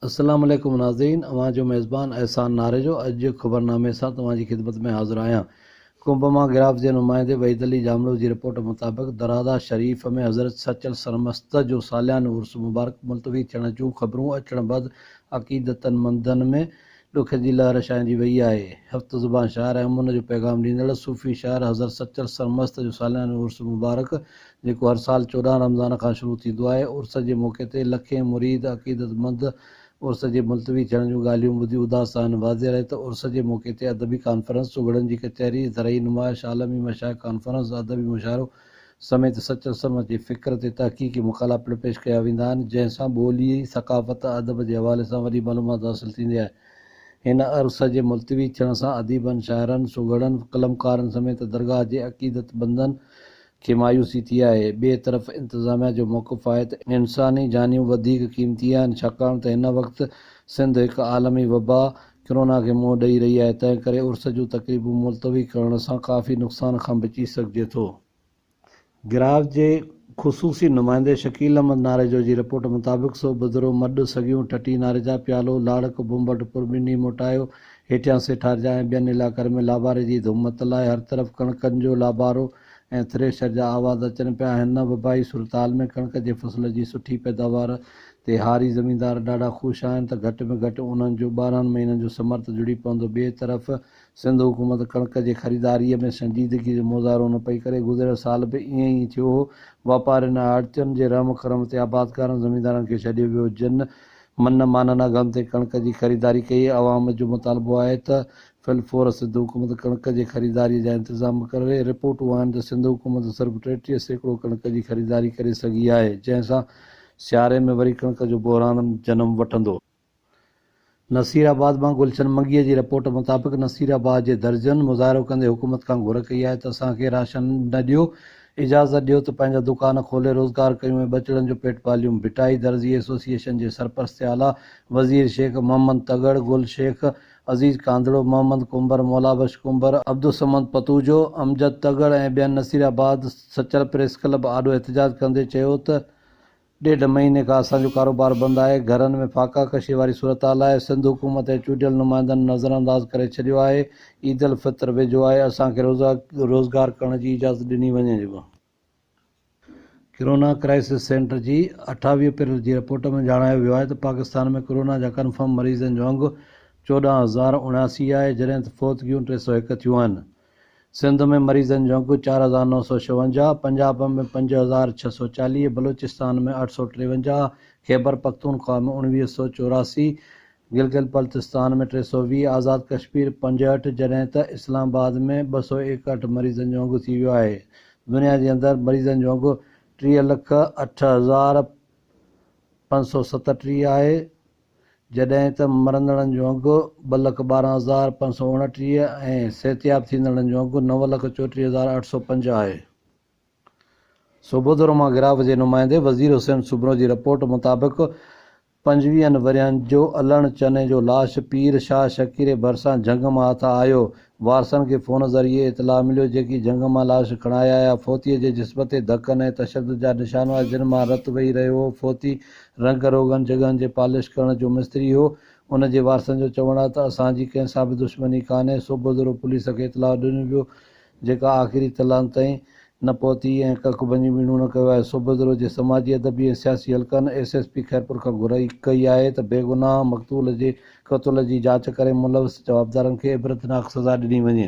السلام عليڪم ناظرين اوهان جو ميزبان احسان ناريجو اڄ جي خبرنامي سان توهان جي خدمت ۾ حاضر آهيان ڪنڀ مان گراف جي نمائندي وحيد علي ڄامڙو جي رپورٽ مطابق درادا شريف ۾ حضرت سچل سرمست جو ساليانو عرس مبارڪ ملتوي ٿيڻ جون خبرون اچڻ بعد عقيدتمندن ۾ ڏک جي لهر ڇانئجي ويئي آهي. هفت زبان شاعر ۽ امن جو پيغام ڏيندڙ صوفي شاعر حضرت سچل سرمست جو ساليانو عرس مبارڪ جيڪو هر سال چوڏهن رمضان کان شروع ٿيندو آهي عرس جي موقعي تي لکين مريد عقيدت مند عرس جي ملتوي ٿيڻ جون ڳالهيون ٻڌي اداس آهن واضح رهي ته عرس جي موقعي تي ادبي ڪانفرنس سگهڙن جي ڪچهري زرعي نمائش عالمي مشائخ ڪانفرنس ادبي مشاعرو سميت سچ ۽ سرمچ جي فڪر تي تحقيقي مقالا پڻ پيش ڪيا ويندا آهن، جنهن سان ٻولي، ثقافت، ادب جي حوالي سان وڏي معلومات حاصل ٿيندي آهي. هن عرصه جي ملتوي ٿيڻ سان اديبن، شاعرن، سگهڙن، قلمڪارن سميت درگاهه جي عقيدت مندن کي مايوسي ٿي آهي. ٻئي طرف انتظاميا جو موقف آهي ته انساني جانيون وڌيڪ قيمتي آهن، ڇاڪاڻ ته هن وقت سنڌ هڪ عالمي وبا، ڪرونا کي منهن ڏئي رهي آهي، تنهن ڪري عرس جون تقريبون ملتوي ڪرڻ سان ڪافي نقصان کان بچي سگهجي ٿو. گراف جي خصوصي نمائندي شڪيل احمد ناريجو جي رپورٽ مطابق سو بدرو، مڏ، سڳيون، ٺٽي، ناريجا، پيالو، لاڙڪ، بمبٽ پور، ٻنهي موٽايو، هيٺيان سيٺارجا ۽ ٻين علائقن ۾ لاباري جي ڌوم متل آهي، هر طرف ڪڻڪن جو لابارو، ۽ ٿريشر جا آواز اچن پيا ۽ هن وبائي صورتحال ۾ ڪڻڪ جي فصل جي سٺي پيداوار تي هاري زميندار ڏاڍا خوش آهن ته گهٽ ۾ گهٽ انهن جو ٻارهن مهينن جو ثمر ته جڙي پوندو ٻئي طرف سنڌ حڪومت ڪڻڪ جي خريداريء ۾ سنجيدگي جو مظاهرو نه پئي ڪري گذريل سال به ائين ئي ٿيو هو واپارين ۽ آڙتين جي رحم ڪرم تي آبادگارن زميندارن کي ڇڏيو ويو جن من مانن اگهن تي ڪڻڪ جي خريداري ڪئي عوام جو مطالبو آهي ته في الفور سنڌ حڪومت ڪڻڪ جي خريداري جا انتظام به ڪري، رپورٽون آهن ته سنڌ حڪومت صرف ٽيٽيهه سيڪڙو ڪڻڪ جي خريداري ڪري سگهي آهي، جنهن سان سياري ۾ وري ڪڻڪ جو بحران جنم وٺندو. نصير آباد مان گلشن منگيء جي رپورٽ مطابق نصير آباد جي درزين مظاهرو ڪندي حڪومت کان گهر ڪئي آهي ته اسان کي راشن نه ڏيو، اجازت ڏيو ته پنهنجا دڪان کولي روزگار ڪيون ۽ ٻچڙن جو پيٽ پاليون. ڀٽائي درزي ايسوسيئيشن جي سرپرست اعليٰ وزير شيخ محمد تڳڙ گل شيخ عزيز ڪانڌڙو، محمد ڪنڀر، مولابخش ڪنڀر، عبدالصمد پتوجو، امجد تڳڙ ۽ ٻين Naseerabad Sachal press club آڏو احتجاج ڪندي چيو ته ڏيڍ مهيني کان اسان جو ڪاروبار بند آهي، گهرن ۾ فاقا ڪشي واري صورتحال آهي، سنڌ حڪومت ۽ چونڊيل نمائندن نظرانداز ڪري ڇڏيو آهي، عيدالفطر ويجهو آهي، اسان کي روزگار ڪرڻ جي اجازت ڏني وڃي. ڪرونا ڪرائسس سينٽر جي اٺاويهه اپريل جي رپورٽ ۾ ڄاڻايو ويو آهي ته پاڪستان ۾ ڪرونا جا ڪنفرم مريضن جو انگ چوڏهن هزار اڻياسي آهي جڏهن ته فوتگيون ٽي سؤ هڪ ٿيون آهن. سنڌ ۾ مريضن جو انگ چار هزار نو سؤ ڇاونجاهه، پنجاب ۾ پنج هزار ڇهه سؤ چاليهه، بلوچستان ۾ اٺ سؤ ٽيونجاهه، خيبرپختونخوا ۾ اڻويهه سؤ چوراسي، گلگت بلتستان ۾ ٽي سؤ ويهه، آزاد ڪشمير پنجهٺ جڏهن ته اسلام آباد ۾ ٻه سؤ ايڪهٺ مريضن جو انگ ٿي ويو آهي. دنيا جي اندر مريضن جو انگ ٽيهه لک اٺ هزار پنج سؤ ستٽيهه آهي جڏهن ته مرندڙن جو انگ ٻه لک ٻارهن هزار پنج سؤ اوڻٽيهه ۽ صحتياب ٿيندڙن جو انگ نو لک چوٽيهه هزار اٺ سؤ پنج آهي. سوڀودروما گراف جي نمائندي وزير حسين سومرو جي رپورٽ مطابق پنجويهن ورهين جو الهڻ چني جو لاش پير شاهه شڪيري ڀرسان جهنگ مان هٿ آيو. وارثن کي فون ذريعي اطلاع مليو، جيڪي جهنگ مان لاش کڻائي آيا. فوتيء جي جسم تي ڌڪن ۽ تشدد جا نشان هئا، جن مان رت وهي رهيو هو. فوتي رنگ روغن جڳهن جي پالش ڪرڻ جو مستري هو. ان جي وارثن جو چوڻ آهي ته اسان جي ڪنهن سان به دشمني ڪانهي. صبح ذرو پوليس کي اطلاع ڏنو ويو، جيڪا آخري تلان تائين نه پهتي ۽ ڪک ڀڃي ميڻو نه ڪيو آهي، سو بدرو جي سماجي، ادبي ۽ سياسي حلقن ايس ايس پي خيرپور کان گهرائي ڪئي آهي ته بيگناهه مقتول جي قتل جي جاچ ڪري ملوث جوابدارن کي عبرتناڪ سزا ڏني وڃي.